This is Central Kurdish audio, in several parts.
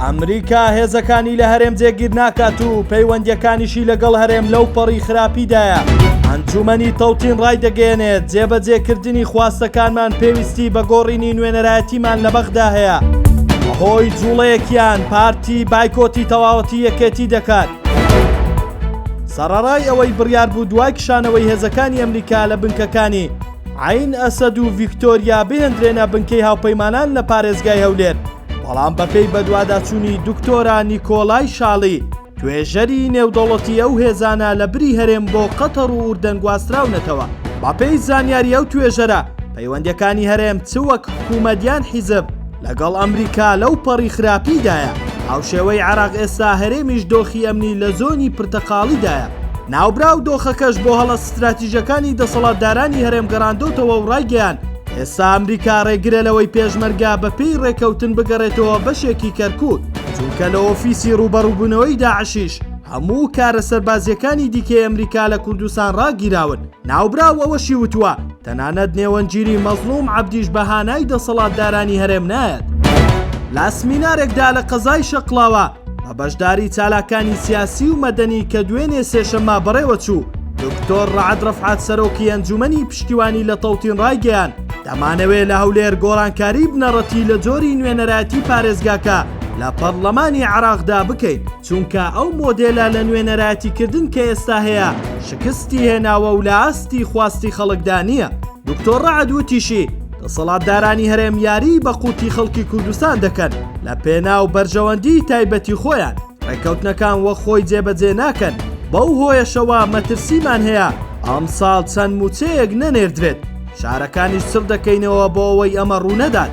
ئەمریکا هێزەکانی لە هەرێم جێگیر ناکات و پەیوەندیەکانیشی لەگەڵ هەرێم لەو پەڕی خراپیدایە ئەنجومەنی تەوتین ڕای دەگەێنێت جێبەجێکردنی خواستەکانمان پێویستی بە گۆڕینی نوێنەرایەتیمان لە بەغدا هەیە هۆی جوڵەیەکیان پارتی بایکۆتی تەواوەتی یەکێتی دەکات سەڕڕای ئەوەی بڕیار بوو دوای کشانەوەی هێزەکانی ئەمریکا لە بنکەکانی عەین ئەسەد و ڤیکتۆریا بهێندرێنە بنکەی هاوپەیمانان لە پارێزگای هەولێر، بەڵام بەپێی بەدواداچوونی دکتۆرا نیکۆلای شاڵی، توێژەری نێودەوڵەتی ئەو هێزانە لە بری هەرێم بۆ قەتەڕ و ئوردەن گواستراونەتەوە. بەپێی زانیاری ئەو توێژەرە، پەیوەندیەکانی هەرێم چ وەک حکومەت یان حیزب لەگەڵ ئەمریکا لەو پەڕی خراپیدایە، هاوشێوەی عێراق ئێستا هەرێمیش دۆخی ئەمنی لە زۆنی پرتەقاڵیدایە، ناوبراو دۆخەکەش بۆ هەڵە ستراتیژەکانی دەسەڵاتدارانی هەرێم گەڕاندۆتەوە و ڕایگەیاند، ئێستا ئەمریکا ڕێگرە لەوەی پێشمەرگە بە پێی ڕێکەوتن بگەڕێتەوە بەشێکی کەرکوک، چونکە لە ئۆفیسی ڕووبەڕووبوونەوەی داعشیش هەموو کارە سەربازییەکانی دیکەی ئەمریکا لە کوردستان ڕاگیراون. ناوبراو ئەوەشی وتووە، تەنانەت نێوەندگیری مەزڵوم عەبدیش بە هانای دەسەڵاتدارانی هەرێم نایەت. لە سمینارێکدا لە قەزای شەقڵاوە، بە بەشداری چالاکانی سیاسی و مەدەنی کە دوێنێ سێشەمما بەڕێوە چوو دکتۆر ڕعد ڕفعات سەرۆکی ئەنجومەنی پشتیوانی لە تەوتین ڕایگەیان دەمانەوێ لە هەولێر گۆڕانکاری بنەڕەتی لە جۆری نوێنەرایەتی پارێزگاکە لە پەرلەمانی عراقدا بکەین چونکە ئەو مۆدێلە لە نوێنەرایەتیکردن کە ئێستا هەیە شکستی هێناوە و لە ئاستی خواستی خەڵکدا نییە دکتۆر رەعد وتیشی، دەسەڵاتدارانی هەرێم یاریی بە قوتی خەڵکی کوردستان دەکەن لە پێناو بەرژەوەندیی تایبەتی خۆیان، رێککەوتنەکان وەک خۆی جێبەجێ ناکەن، بەو هۆیەشەوە مەترسیمان هەیە ئەمساڵ چەند مووچەیەک نەنێردرێت، فشارەکانیش چڕ دەکەینەوە بۆ ئەوەی ئەمە روونەدات.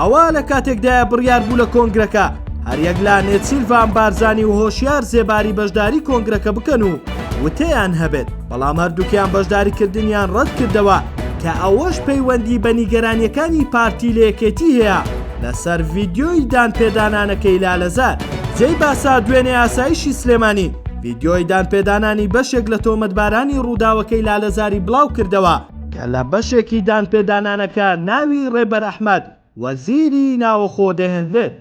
ئەوە لە کاتێکدایە بڕیار بوو لە کۆنگرەکە هەریەک لا نێچیرڤان بارزانانی و هۆشیار زێباری بەشداری کۆنگرەکە بکەن و وتەیان هەبێت بەڵام هەردووکیان بەشداری کردنیان ڕەت کردەوە کە ئەوەش پەیوەندی بە نیگەرانیەکانی پارتی لەیەکێتی هەیە لەسەر ڤیددیۆی دان پێدانانەکەی لالەزار جێی باسە دوێنێ ئاسایشی سلێمانی ڤیددیۆی دان پێدانانی بەشێک لە تۆمەتبارانی ڕووداوەکەی لالەزاری بڵاو کردەوە کە لە بەشێکی دانپێدانانەکە ناوی ڕێبەر ئەحمەد وەزیری ناوەخۆ دەهێنرێت.